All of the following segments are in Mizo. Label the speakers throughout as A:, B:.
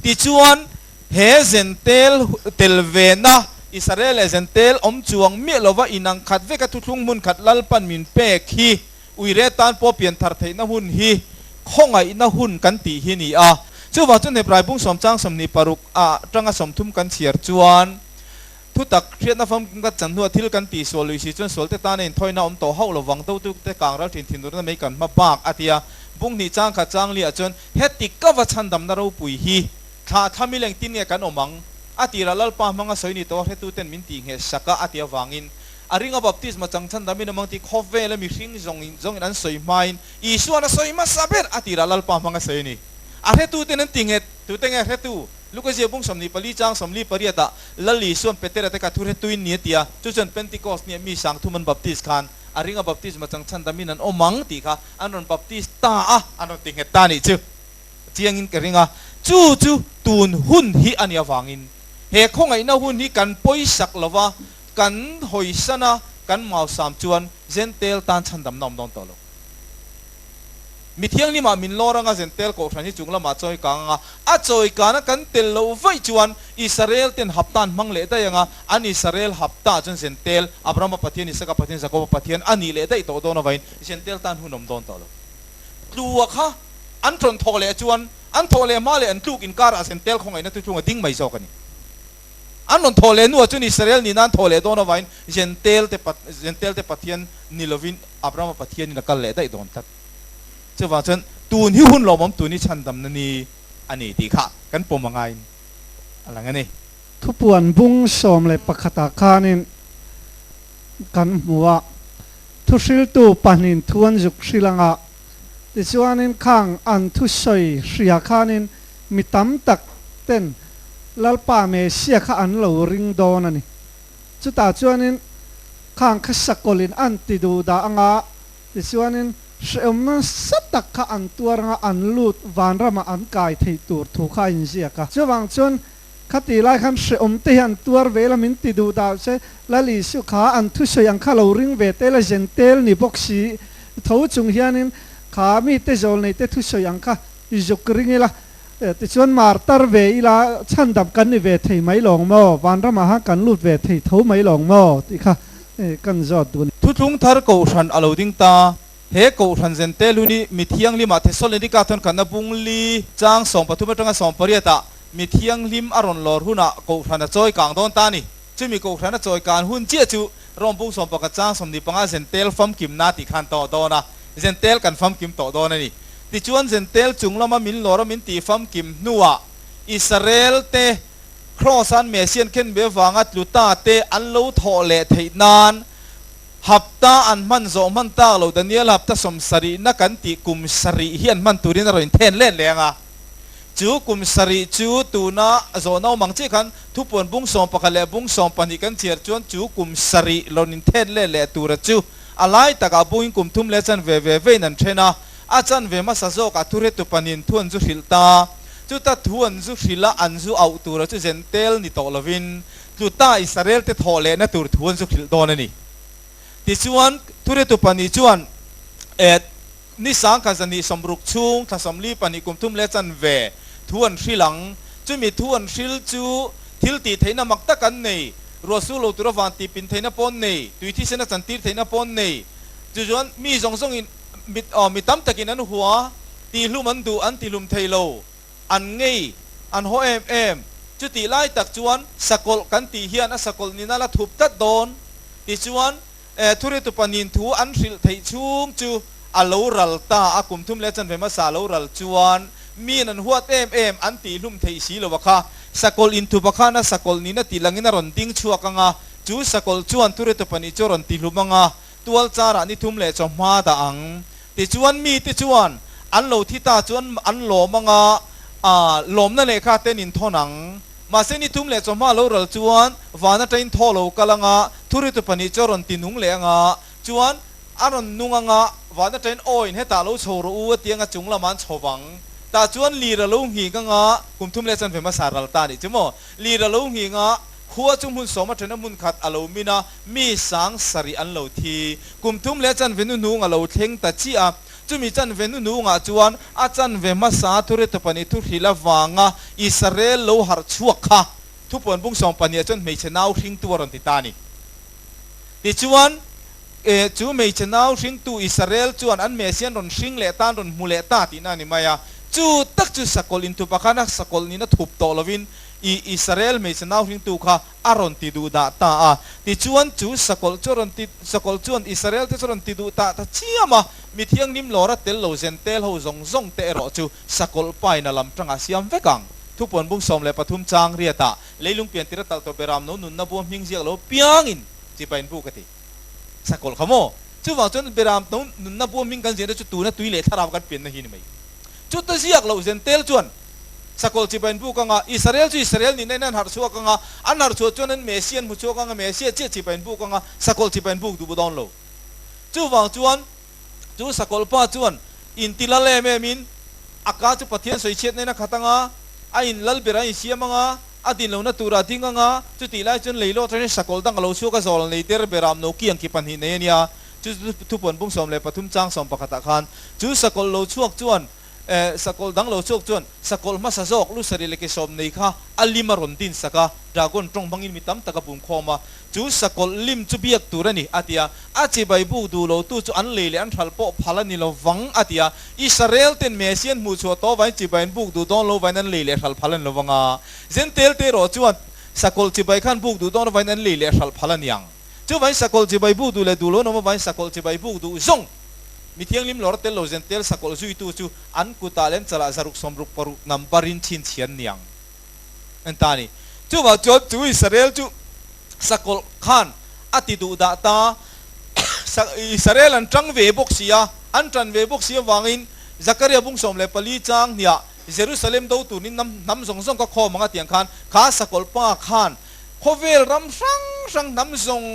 A: Tichuan, he Zentail tel vena Israel leh Zentail awm chuang miah lova inang khat veka thuthlung hmunkhat lalpan min pek hi uire tan pawh pian thar theihna hun hi khawngaihna hun kan tih hi ni a. Chuvang chu Hneplai Bung Sawmchang sawmhnih paruk a tanga sawmthum kan chhiar chuan thutak hriatna fam kumkhat chan hnuah thil kan tih sual lui si chuan sualte tana inthawihnaa awm tawh hauh lovang dotu te kang ralthin thinurna mei kan hma bak a tia. Bunghnih changkhat Changliah chuan Heti ka va chhandamna ropui hi thlah thla mileng tin nge kan awm ang? A tirah Lalpa hmanga sawi ni tawh a hretuten min tih ngheh sak a, a ti avangin a ringa baptisma chang chhandam in awm ang tih khawp vel a mihring zawngin zawngin an sawi hmain Isua na sawi hmasa ber a tirah Lalpa hmanga sawi a ni. A hretuten an ti nghet, tute nge hretu Luka ziabung sawmhnih pali chang sawmli pariat ah Lal Isuan Petera te kha thu hretuin ni a tia, chu chuan Pentecost ni ah mi sangthum an baptist khan, a ringa baptisma changchhan damin an awm ang tih kha an rawn baptist ta a, an rawn ti nghet ta a nih chu. Chiangin ka ring a, chu chu tun hun hi a nih avangin he khawngaihna hun hi kan pawisak lo va, kan hawisana kan mausam chuan Gentile tan chhandamna awm dawn tawh lo. Mi Thiangnimah min lawr anga Zentail Kohhran hi chunglam ah chawikang anga a chawikan a kan tel loh vaih chuan Israel ten hapta an hmang leh daih anga an Israel hapta ah chuan Zentail Abraham-a Pathian, Isaac-a Pathian, Jacob-a Pathian a nih leh daih tawh dawn avangin Zentail tan hun awm dawn tawh lo. Tlua kha an tawn thawh leh chuan an thawh leh hma leh an tluk inkar ah Zentail khawngaihna tu chhung a ding mai zawk a ni. An rawn thaw leh hnuah chuan Israel nihna an thaw leh dawn avangin Gentile te pa, Gentile te Pathian ni lovin Abrahama Pathianin a kal leh daih dawn tlat. Chuvang chuan tun hi hun lawmawm tun hi chhandamna ni a ni tih kha kan pawm angain a lang a ni. Thupuan bung sawm leh pakhatah khanin kan hmu a, thuhriltu pahnihin thu an zuk hrilh anga Tichuanin khang an thu sawi hria khanin mi tam tak ten Lalpa Messia kha an lo ring dawn a ni. Chutah chuanin khang kha sakawlh in an ti duh dah a nga, tichuanin hrehawm nasa tak kha an tuar anga an lut vanram ah an kai theih tur thu kha a inziak a. Chuvang chuan Khati lai khan hrehawm te hian tuar ve la min ti duh dau che. Lali Su kha an thusawi ang kha lo ring ve tel a zen tel ni bawk si. Tho chung hianin kha mi te zawl nei te thusawi ang kha i zuk ring ila. Tichuan mar tar ve ila chhan dam kan ni ve thei mai lawng maw? Vanram ah han kan lut ve thei tho mai lawng maw? Tih kha kan zawt duh a ni. Thuthlung thar kohhran a lo ding ta He Kohhran zen te hlun hi Mi Thianglima Thesalonika thawnkhatna bung li chang sawm pathum atanga sawm pariata Mi Thianghlim a rawn lawr huna Kohhran a chawi kang dawn ta a ni. Chumi Kohhran a chawi kan hun chiah chu Rome bung sawm pakhat chang sawm ni panga Zentel famkimna tih khan tawh dawn a, Zentel kan famkim tawh dawn a ni. Tichuan Zentel chung lama min lawra min tih famkim hnuah Israel te Kraws an Messian khenbe vanga tluta te an lo thawh leh theih nan, Hapta an hman zawh hman tak lo Daniel hapta sawm sarih na kan tih kum sarih hi an hman turin a rawn inthen leh leng a. Chu kum sarih chu tuna zawh naumang chi khan thupuan bung sawm pakhat leh bung sawm pahnih kan chhiar chuan chu kum sarih rawn inthen leh leh tura chu a lai takah bungin kum thum leh chanve ve veiin an then a. A chanve hmasa zawkah thu hretu pahnihin thu an zu hrilh ta. Chuta thu an zu hrilh a an zu auh tura chu zen tel ni tawh lovin tluta Israel te thawh lehna tur thu an zukhilh dawn a ni. Tichuan, thuritu pahnih chuan, Êt, ni sangkhat zahnih sawmruk chhung thla sawmli pahnih kum thum leh chanve thu an hrilh ang. Chumi thu an hrilh chu thil tih theihna mak tak an nei, ruahsur lo tur avang tih pin theihna paw'n nei, tui thisen a chantir theihna paw'n nei. Tichuan, mi zawng zawngin, mi tam takin an hua, tihlum an duh, an tihlum thei lo. An ngei, an haw em em. Chutih lai tak chuan sakawlh kan tih hian a sakawlh ni nala thup tlat dawn. Tichuan, eh, Thuri Tupanin thu an hrilh theih chhung chu a lo ral ta a, kum thum leh chanve hmasa a lo ral chuan miin an huat em em an tih hlum theih si lo a kha. Sakawlh in thu pakhan a sakawlh nina tih langin a rawn ding chhuak ang a, chu sakawlh chuan Thuri Tupani chu a rawn ti hlum ang a. tualcharah ni thum leh chawhma dah ang. Tichuan mite chuan an lo thi ta chuan an lawm ang a, aah, lawmna lehkha ten in thawn ang. Mahse ni thum leh chawhma lo ral chuan van atangin thaw lo kal ang a, thuritu pahnih chu a rawn ti nung leh ang a, chuan a rawn nung ang a, van atangin aw in hetah lo chho rawh u a ti ang a, chung lamah an chho vang tah chuan lir a lo nghik ang a, kum thum leh chanve hmasa ral ta a nih chu maw, lir a lo nghik ang a, Khua chu hmun sawma thena hmun khat a lo min a, mi sang sarih an lo thi. Kum tum leh chanve nu hnung a lo thleng ta chiah a. Chumi chanve nu hnungah chuan a chanve hmasa thurethawp pahnih thuhrilh avanga i sarel lo harh chhuak kha thupuanbung sawm pahniha chuan hmeichhe nau hringtu a rawn ti ta a ni. Tichuan, eh, chu hmeichhe nau hringtu i sarel chuan an mess hi an rawn hring leh ta, an rawn hmu leh ta tihna a ni mai a. Chu tak chu sakawlh inthupa khan a sakawlh nihna thup tawh lovin, i Israel hmeichhe nauhringtu kha a rawn ti duh dah ta a. Tichuan, chu sakawlh chu a rawn ti, sakawlh chuan Israel te chu a rawn ti duh ta ta chiam a, mi thianghlim lawra tel lo Jentail ho zawng zawng te erawh chu sakawlh paina lam tangah siam vek ang. Thupawnbung sawm leh pathum chang riatah leilung pian tira talh tawh ber ram lo nunna buam hming ziak lo piangin chipa inbuk a ti. Sakawlh kha maw? Chuvang chuan Biram tun nunna buamhming kan ziahna chu tuna tui leh thlarau kan pianna hi a ni mai. Chuta ziak loh Zentail chuan Sakawlh chipa in buk anga, Israel chu Israel nihna in an harh chhuak anga, an harh chhuah chuan an Messia an hmu chhuak anga, Messia chiah chipa in buk anga, Sakawlh chipa in buk duh bu dawn lo. Chuvang chuan Chu sakawlpa chuan in ti lal em em in a ka chu Pathian sawi chhiat nen a khat anga, a in lal ber a in siam anga, a din lohna tur a ding anga, chu tih lai chuan leiloh atangin sakawlh dang a lo chhuak a zawl a nei der ber a awm lo ki ang ki pahnih nei a nia, chu thupawn bum sawm leh pathum chang sawm pakhat ah khan chu sakawlh lo chhuak chuan E, sakawlh dang lo chawk chuan sakawlh hmasa zawk lu sarih leh ke sawm nei kha a lim a rawn din sak a, dragon tawng hmangin mi tam tak a bum khawm a, chu sakawlh lim chu biak tur a ni, a ti a. A chibai buk duh lo tu chu an lei leh an hralh pawh phal a ni lo vang, a ti a. Israel ten Messian hmuhchhuah tawh vain chibai in buk duh dawn lo vain an lei leh hralh phal a ni lo vang a, Gentile te erawh chuan sakawlh chibai khan buk duh dawn vain an lei leh hralh phal a niang. Chu vain sakawlh chibai buk duh leh duhlawn awm avangin sakawlh chibai buk duh zawng mi thianghlim lawr tel lo zen tel sakawlh zuitu chu an kutah lem chalah zaruk sawm ruk paruk nam parin chhinchhian niang an ta a ni. Chuvang chuan chu Israel chu sakawlh khan a ti duh dah ta a, Israel an ṭang ve bawk si a, an ṭan ve bawk si avangin Zakaria bung sawm leh pali chang hniah Jerusalem do turin hnam zawng zawng ka khawm ang a tiang khan kha sakawlh pa khan Khawvel ram hrang hrang hnam zawng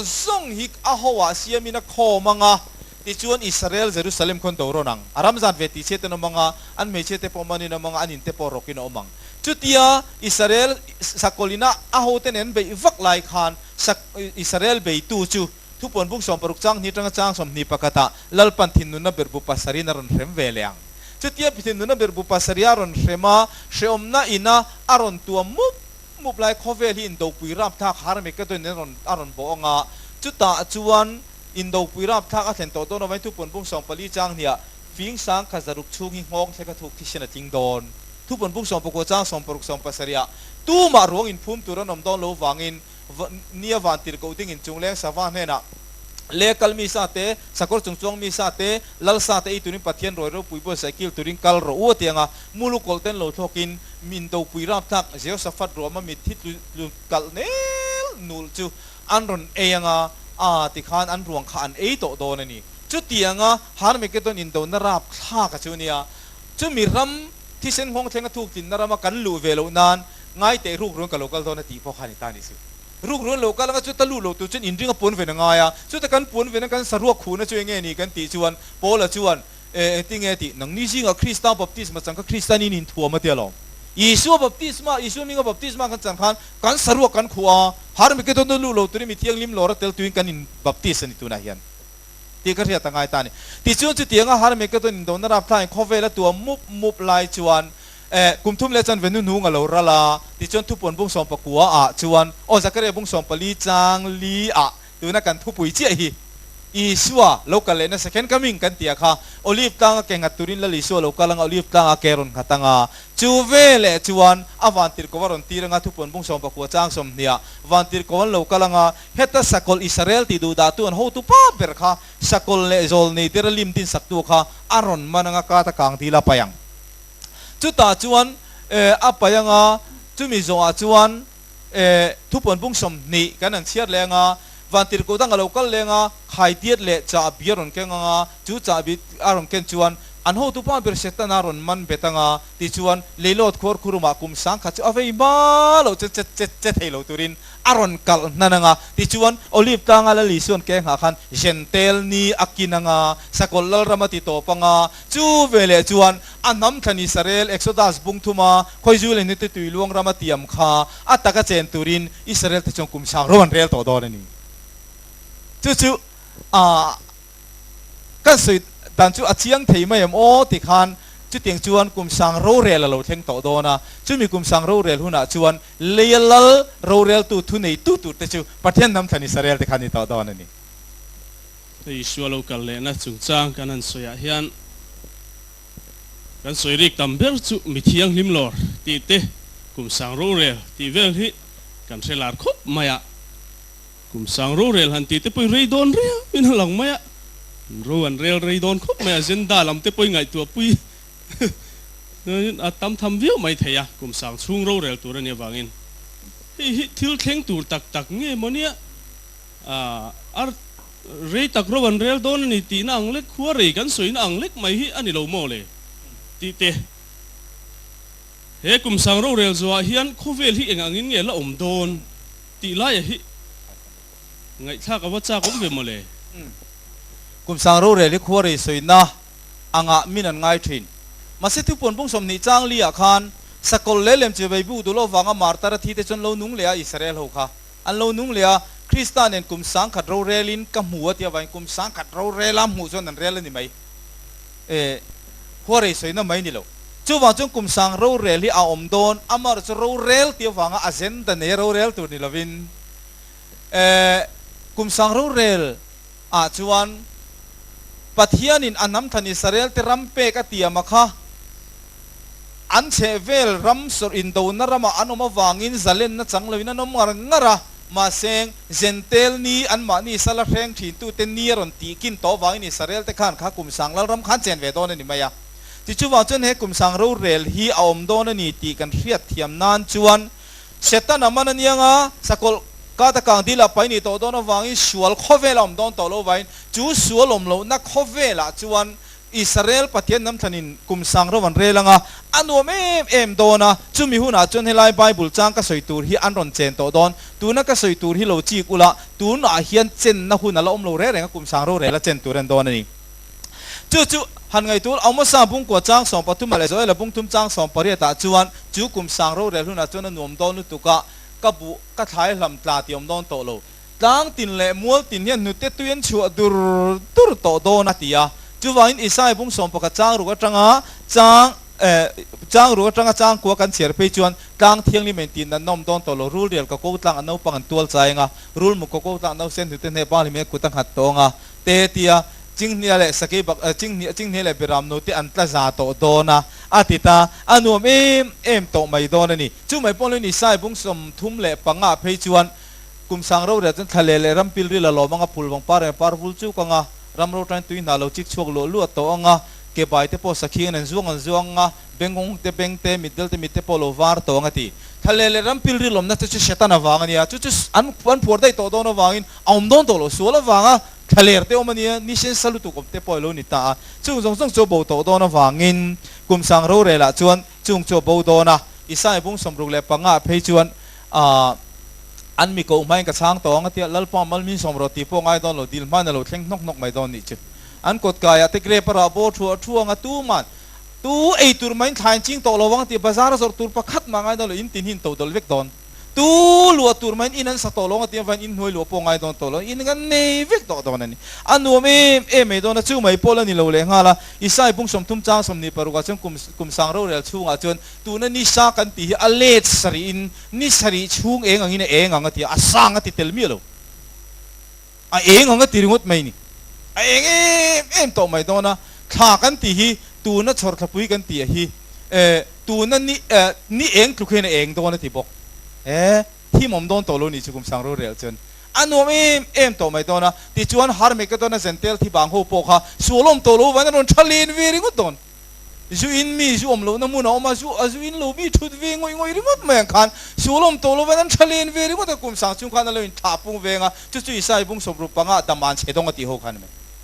A: zawng hi a hawah siamin a khawm ang a, tichuan Israel Jerusalem khawn do rawn ang. A ram zan ve tihchhiat ten a awm ang a, an hmeichhia te pawh manin a awm ang a, an in te pawh rawkin a awm ang. Chutia Israel Sakolina a hote nen beih vak lai khan Sak Israel beitu chu Thupuan buk sawm paruk chang hnih atanga chang sawm hnih pakhatah Lalpan thinunna berbu pasarin a rawn hrem ve leh ang. Chutia thinunna berbu pasaria rawn hrema hrehawmna ina a rawn tuam mup. Muplai khawvel hi Indopui rapthlak Harmagedon-in a rawn a rawn bawh ang a, chutah chuan Indopui rapthlak a thlen tawh dawn avangin Thupunbung sawm pali chang hniah fing sang kha zaruk chhung hi nghawng thle kha thuk thisen a tling dawn. Thupunbung sawm pakua chang sawm paruk sawm pasarihah tumah ruang inphum tur an awm dawn lo vangin va nia van tir koh dingin Chungleng Sava hnenah leh kal mi sa te, sakawr chung chuang mi sa te, lal sa te ei turin Pathian rawiro pui bual saikil turin kal rawh u a ti ang a, muluk kawlten lo thlawkin. Min dopui rapthlak Jehoshaphat ruahma mit hi tlutkalh nel nul chu an rawn ei anga aa tikhan an ruang kha an ei tawh dawn a ni. Chutianga Harmagedon indona rapthlaka chu nia, chumi ram thisen nghawng thleng a thuktlin-na rama kan luh ve loh nan ngaite rukruan ka lo kal dawn a tih pawh kha ani ta nih si. Rukruan lo kal anga chuta luh loh tur chuan inringa puan ven a ngai a, chuta kan puan ven ang kan saruak khuhna chu enge ni kan tih chuan Paula chuan E, engtin nge tih? Nangni zingah Krista baptisma chan kha Kristian in inthuam a tia lo. Isua baptisma, Isua minga baptisma kan chan khan kan saruak kan khuh a, Harmagedona luh lo turin mi thianghlim lawra tel tuin kan in baptis a ni tunah hian. Tih ka hriat a ngai ta a ni. Tichuan chutianga Harmagedon indona rapthlain khawvel a tuam mup mup lai chuan e, kum thum leh chanve hnu hnung a lo ral a, tichuan thupawn bung sawmpakua ah chuan aw Zakaria bung sawmpali chang li ah Tuna kan thupui chiah hi Isua lo kal lehna second coming kan tia kha Olive tlanga ke nghat turin lal Isua lo kal anga Olive tlanga ke rawn nghat anga chu veleh chuan a vantirhkoh a rawn tir anga thupuanbung sawmpakhua chang sawmhnia vantirhkoh an lo kal anga heta sakawlh Isarel tih duh dahtu an hotu pa ber kha sakawlh leh zawl nei tera lim tinsaktu kha a rawn man anga kata kang dil a pai ang chutah chuan a pai anga chumi zawhah chuan Eh, thu puan pung sawm hnih kan rawn chhiar leh ang a, van tirhkoh dang a lo kal leh ang a, khai diat leh chah a bia rawn keng ang a, chu chah bit a rawn ken chuan an hotu pa bersat tan a rawn man bet ang a, tih chuan Leilawt khuar khurum ah kum sang khat chu a vei hma loh chuan che che che thei lo tur in a rawn kalh hnan ang a, tih chuan Olive tlang a la li suan keng ha khan Jen Tel ni a kin ang a, Sakawlh Lalrama ti tawp ang a, Chu ve leh chuan a hnam thla Nisarel Exodus bung thuma Khawizuil a hnitu tui luang rama tiam kha a taka chen turin Isarelta chuan kum sang rawh an rel tawh dawn a ni. Chu chu a kan sawi dan chu a chiang thei mai em aw ti khan chutiang chuan kum sang rorel a lo thleng tawh dawn a. Chumi kum sang rorel hunah chuan leia lal roreltu thuneitu tur te chu Pathian hnam thla Nisarel te kha a ni tawh dawn a ni. Isua lo kal lehna chungchang kan han sawiah hian kan sawi rik tam ber chu mi thianghlim lawr tih te, kum sang rorel tih vel hi kan hre lar khawp mai a. Kum sang rorel han tihte pawhin rei dawn riau in a lang mai a, ro an rel rei dawn khawp mai a, zenda lam te pawhin ngaihtuahpui chuan a tam tham viau mai thei a, kum sang chhung rorel tur a nih avangin hei hi thil thleng tur tak tak nge maw nia? Ar rei tak ro an rel dawn a ni tihna ang lek, khua rei kan sawina ang lek mai hi a ni lo maw le? tih te. He kum sang rorel zuaah hian khawvel hi eng angin nge la awm dawn tih laia hi ngaihthlak a va chak awm ve maw le? Kum sang rorel hi khua rei sawina anga min an ngai thin. Mahse chu pawn pawng sawmhnih chang li ah khan sakawlh leh lemchhe veibu dul awk vanga martar a thi te chuan lo nung leh a Israel ho kha. An lo nung leh a, Krista nen kum sangkhat rorel in ka hmu a tia vain kum sangkhat rorel a hmuh chuan an rel a ni mai e, huarei sawi na mai ni lo. Chuvang chuan kum sang rorel hi a awm dawn, amarawh chu rorel tia vanga agenda nei a rorel tur ni lovin e, kum sang rorel ah chuan Pathianin a hnamthan Isarel te ram pek a tiam a kha an chhehvel ram sawrh indona ramah an awm avangin zalenna chang loin an awm ngar ngar a, mahse, Zentail ni anmahni sala hreng thintute ni a rawn tihkin tawh avangin Israelte khan kha Kumsang Lalram khan chen ve dawn a ni mai a. Chu chuvang chuan he Kumsang rorel hi a awm dawn a ni tih kan hriat thiam nan chuan Setana man anianga sakawlh kata kangdilah pai ni tawh dawn avangin sual khawvela awm dawn tawh lovain chu sual awm lohna khawvelah chuan Israel Pathian hnam thlanin kum sang ro an rel ang a, a nuam em em dawn a, chumi hunah chuan helai Bible chang ka sawi tur hi an rawn chen tawh dawn. Tuna ka sawi tur hi lo chik ula, tunah hian chenna hun ala awm lo reng reng a, kum sang ro rel a chen tur en dawn a ni. Chu chu han ngaih tur Amosa bungkua chang sawm pathuma leh Joela bungthum chang sawm pariatah chuan chu kum sang ro rel hunah chuan a nuam dawn lutuk a, ka buh ka thlai hlam tla ti awm dawn tawh lo. Tlang tin leh mual tin hian hnute tui an chhuah dur dur tawh dawn a ti a. Chuvangin Isai bung sawm pakhat changruk atanga chang eh changruk atanga changkua kan chhiar phei chuan tlang thianglimin a intihna an awm dawn tawh lo. Rul rial ka ko tlangah naupang an tual chai ang a, rul muk ka ko tlangah nausen hnute hneh pang hlimna kut a nghat tawh ang a te ti a. Chinghnia leh sakei bak eh Chinghnia Chinghnia leh Biram no te an tla za tawh dawn a a ti ta. A nuam em em tawh mai dawn a ni. Chumai pawn loin Isai bung sawm thum leh panga phei chuan Kum sang rorel chuan thla leh leh ram pil ril a lawm ang a, pul vang par em a par vul chuk ang a, ram ro ṭain tui hnah lo chik chhuak luah luah tawh ang a, ke bai te pawh sakhiain an zuang an zuang ang a, beng hawng hawng te beng te, mit del te mit te pawh lo var tawh ang a ti. Thla leh leh ram pil ril awmna te chu Satan avang a nia, chu chu an an phuar daih tawh dawn avangin a awm dawn tawh lo sual avanga thla ler te awm a nia, nisen sa lutuk awm te pawh a lo ni ta a, chung zawng zawng chu a bo tawh dawn avangin kum sang rorelah chuan chung chu a bo dawn a, Isai bung sawmruk leh panga phei chuan, A, an mi koh hmain ka chhang tawh ang a tia, Lalpa Malmin Sawmraw ti pawh ngai dawn lo, dil hmain a lo thleng hnawk hnawk mai dawn nih chu. An kawt kaiah te grape a rah bawr thu a thu ang a, tu man, tu ei tur mahin thlai an ching tawh lo vang a tia, bazar a zawrh tur pakhat mah ngai dawn lo, in tin hi in to dawlh vek dawn, tu luah tur mahin in an sa tawh lo ang a tia, vain in hnuai luah pawh ngai dawn tawh lo, in kan nei vek tawh dawn a ni. A nuam em em mai dawn a, chu mai pawl a ni lo leh nghal a, Isai Bung Sawmthum Chang Sawmni paruk ah chuan kum kum sang rorel chhungah chuan, Tuna ni sang kan tih hi a let sarih in ni sarih chhung eng angin a eng ang a ti a, a sang a ti tel miah lo. A eng ang a ti ringawt mai ni. A eng em em tawh mai dawn a. Thla kan tih hi tuna chhawr thlapui kan tih ah hi eh tuna ni eh ni eng tluk hian a eng dawn a ti bawk. Eh thim awm dawn tawh lo ni chu kum sang rorel chuan a nuam em em tawh mai dawn a. Tichuan Harmagedon-a Zentail thibang ho pawh kha sualawm tawh lo vangin a rawn tha len ve ringawt dawn. Zu in mi zu awm lohna hmun a awm a, zu a zu in lo mi thut ve ngawih ngawih ringawt mai ang khan sual awm tawh lovain an tha len ve ringawt a, kum sang chung khan a lo in thlah pung veng a, chu chu Isai bung sawp ru panga dam an chhe dawng a tih ho khan a ni.